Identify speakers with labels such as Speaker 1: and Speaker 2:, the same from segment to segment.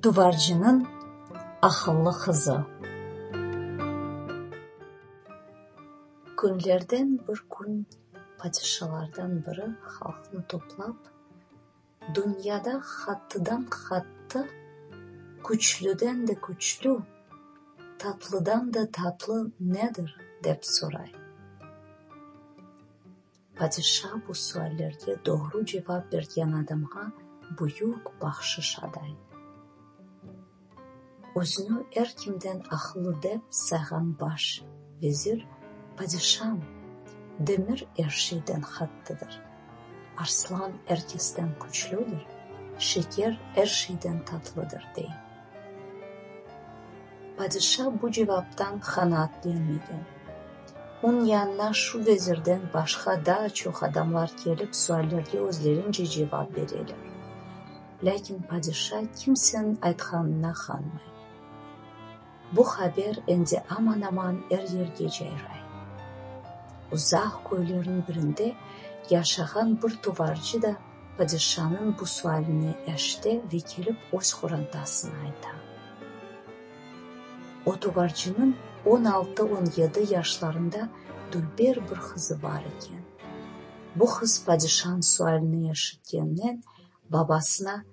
Speaker 1: Duvarcınıñ aqıllı qızı Künlerden bir kün padişalardan biri halqnı toplap: Dünyada hattıdan-hattı, küçlüden de küçlü, tatlıdan da tatlı nedir? dep soray. Padişa bu suallerge doğru cevap bergen adamğa büyük bahşış aday. Özüni er kimden aqıllı dep sayğan baş vezir padişam demir er şeyden qattıdır, arslan er kesten küçlüdir, şeker er şeyden tatlıdır, dey. Padişa bu cevaptan qanaatlenmegen. Oñ yanına şu vezirden başqa daa çoq adamlar kelip suallerge özlerince cevap bereler. Lâkin padişa kimseniñ aytqanına qanmay. Bu haber endi aman-aman er yerge cayray. Uzaq köylerniñ birinde yaşağan bir tuvarcı da padişanıñ bu sualine eşite ve kelip öz qorantasına ayta. O tuvarcınıñ on altı-on yedi yaşlarında dülber bir qızı bar eken. Bu qız padişanıñ sualine eşitkennen Babasına,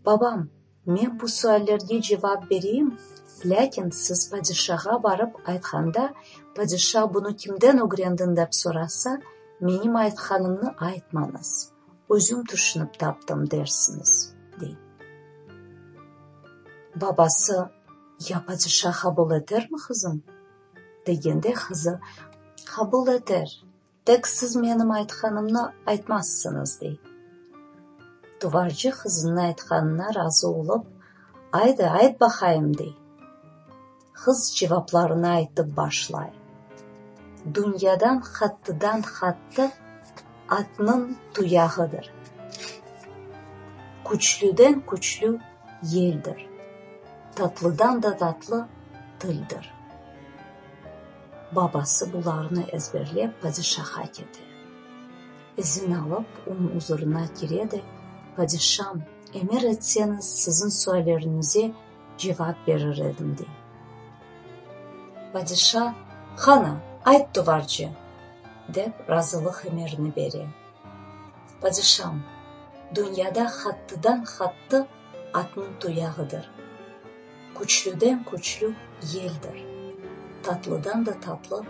Speaker 1: Babam, men bu suallerge cevap bereyim, lâkin siz padişağa barıp aytqanda, padişa bunı kimden ögrendiñ dep sorasa, menim aytqanımnı aytmañız, özüm tüşünip taptım dersiñiz, dey. Babası, Ya padişa qabul etermi, qızım? degende, qızı, Qabul eter. Tek siz menim aytqanımnı aytmazsıñız, dey. Duvarcı qızınıñ aytqanına razı olıp, Aydı, ayt baqayım, dey. Qız cevaplarını aytıp başlay. Dünyadan qattıdan-qattı atnıñ tuyağıdır. Küçlüden-küçlü yeldir. Tatlıdan da tatlı tildir. Babası bularnı ezberlep padişaha kete. İzin alıp, onıñ uzurına kire de, Padişam, emir etseñiz, siziñ sualleriñize cevap berir edim, dey. Padişa, Qana, ayt duvarce! dep, razılıq emirini bere. Padişam, dünyada hattıdan-hattı atnıñ tuyağıdır. Küçlüden küçlü yeldir, tatlıdan da tatlı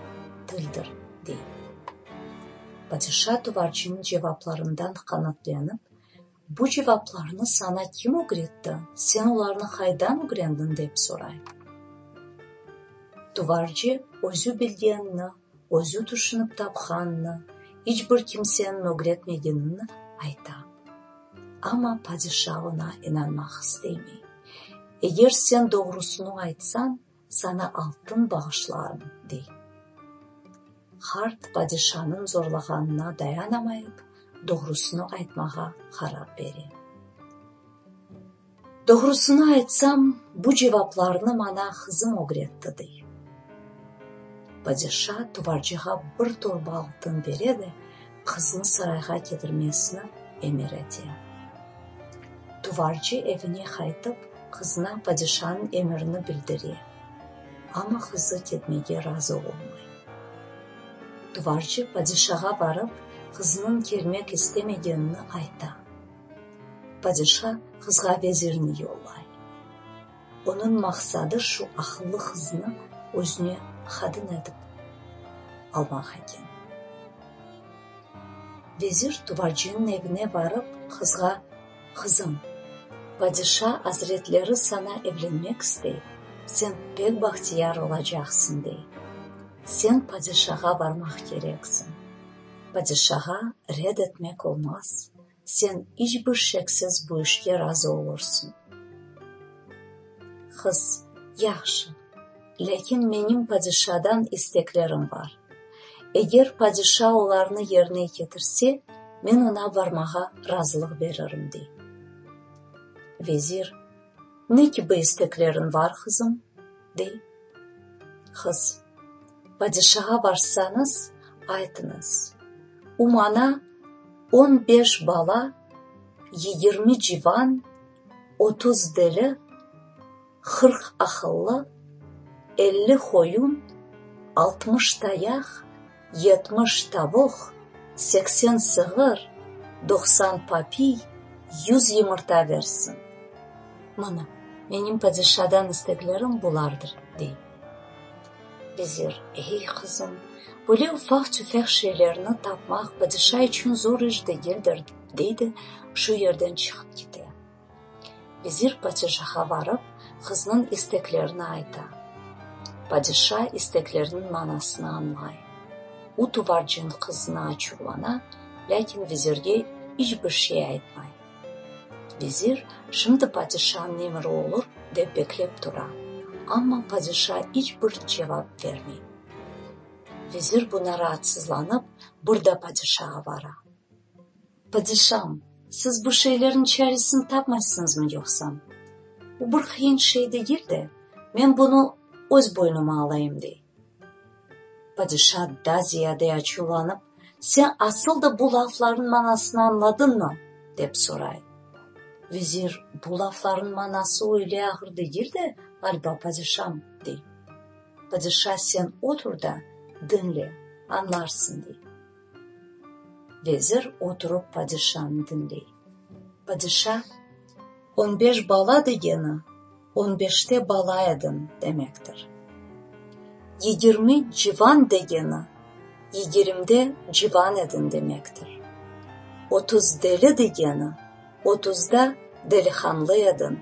Speaker 1: tildir, dey. Padişa tuvarçınıñ cevaplarından qanaatlenip, Bu cevaplarnı saña kim ögretti, sen olarnı haydan ögrendiñ? dep soray. Tuvarcı özü bilgenini özü tüşünip tapqanını, iç bir kimseni mögretmegenini ayta. Amma padişa oña inanmaq isteymey. Eger sen doğrusını aytsañ, saña altın bağışlarım, dey. Hart padişanıñ zorlağanına dayanamayıp, doğrusını aytmağa qarar bere. Doğrusını aytsam, bu cevaplarnı maña qızım ögretti, dey. Padişa tuvarcığa bir torba altın bere de qıznı sarayğa ketirmesini emir ete. Tuvarcı evine qaytıp, qızına padişanıñ emirini bildire, amma qızı ketmege razı olmay. Tuvarcı padişağa barıp, qızınıñ kelmek istemegenini ayta. Padişa qızğa vezirni yollay. Onıñ maqsadı şu aqıllı qıznı özüne qadın etip almaq eken. Vezir tuvacınıñ evine barıp, qızğa, Qızım, padişa azretleri saña evlenmek istey, sen pek bahtiyar olacaqsıñ, dey. Sen padişağa barmaq kereksiñ. Padişağa red etmek olmaz. Sen iç bir şeksiz bu işke razı olursıñ. Qız, Yahşı, lâkin menim padişadan isteklerim bar. Eger padişa olarnı yerine ketirse, men oña barmağa razılıq beririm, dey. Vezir, Ne kibi istekleriñ var, qızım? dey qız. Padişağa barsañız, aytıñız, o maña on beş bala, yigirmi civan, otuz deli, qırq aqıllı, elli qoyun, altmış tayaq, Yetmiş tavuq, seksen sığır, doqsan papiy, yüz yımırta bersin. Mana, menim padişadan isteklerim bulardır, dey. Vezir, Ey, qızım, böyle ufaq-tüfeq şeylerni tapmaq padişa içün zor iş degildir, dey de şu yerden çıqıp kete. Vezir padişaha varıp, qıznıñ isteklerini ayta. Padişa isteklerniñ manasını añlay. U tuvarcin qızına açuvlana, lâkin vezirge iç bir şey aytmay. Vezir, şimdi padişanıñ emiri olur, dep beklep tura, amma padişa iç bir cevap bermey. Vezir buña raatsızlanıp, bir da padişağa vara. Padişam, siz bu şeylerniñ çaresini tapmaysıñızmı yoqsa? O bir qıyın şey degil de, men bunı öz boynuma alayım, dey. Padişa daa ziyade açuvlanıp, Sen asıl da bu laflarnıñ manasını añladıñmı? dep soray. Vezir, Bu laflarnıñ manası öyle ağır degil de, ğaliba, padişam, dey. Padişa, Sen otur da, diñle, añlarsıñ, dey. Vezir oturıp padişanı diñley. Padişa, On beş bala degeni, on beşte bala edim demektir. Yigirmi civan degeni, yigirimde civan edin demektir. Otuz deli degeni, otuzda delihanlı edin.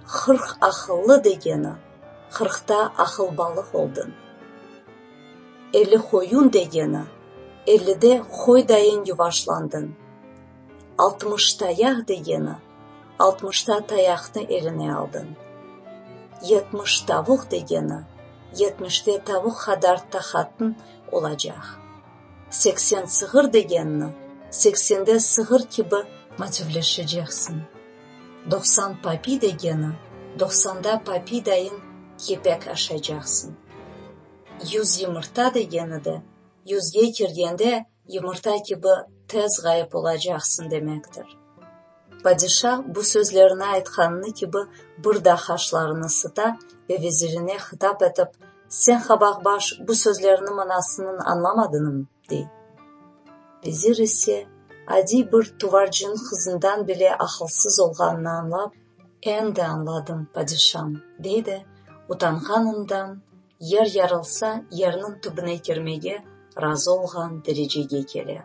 Speaker 1: Hırq aqıllı degeni, hırqta aqılbalıq oldun. Elli qoyun degeni, ellide qoy dayın yuvaşlandın. Altmış tayaq degeni, altmışta tayaqnı eline aldın. Yetmiş tavuq degeni, yetmişte tavuq qadar taqatın olacaq. Seksen sığır degenni, seksende sığır kibi motivleşeceksin. Doqsan papiy degeni, doqsanda papiy dayın kepek aşacaqsın. Yüz yımırta degeni de, yüzge kirgende yımırta kibi tez ğayıp olacaqsıñ demektir. Padişa bu sözlerini aytqanını kibi bir daa qaşlarını sıta ve vezirine hitap etip, Sen, qabaqbaş, bu sözlerini manasınıñ añlamadınıñ? dey. Vezir ise, adiy bir tuvarcınıñ qızından bile aqılsız olğanını añlap, Endi añladım, padişam, dey de, utanğanından, yer yarılsa, yerniñ tübüne kirmege razı olğan derecege kele.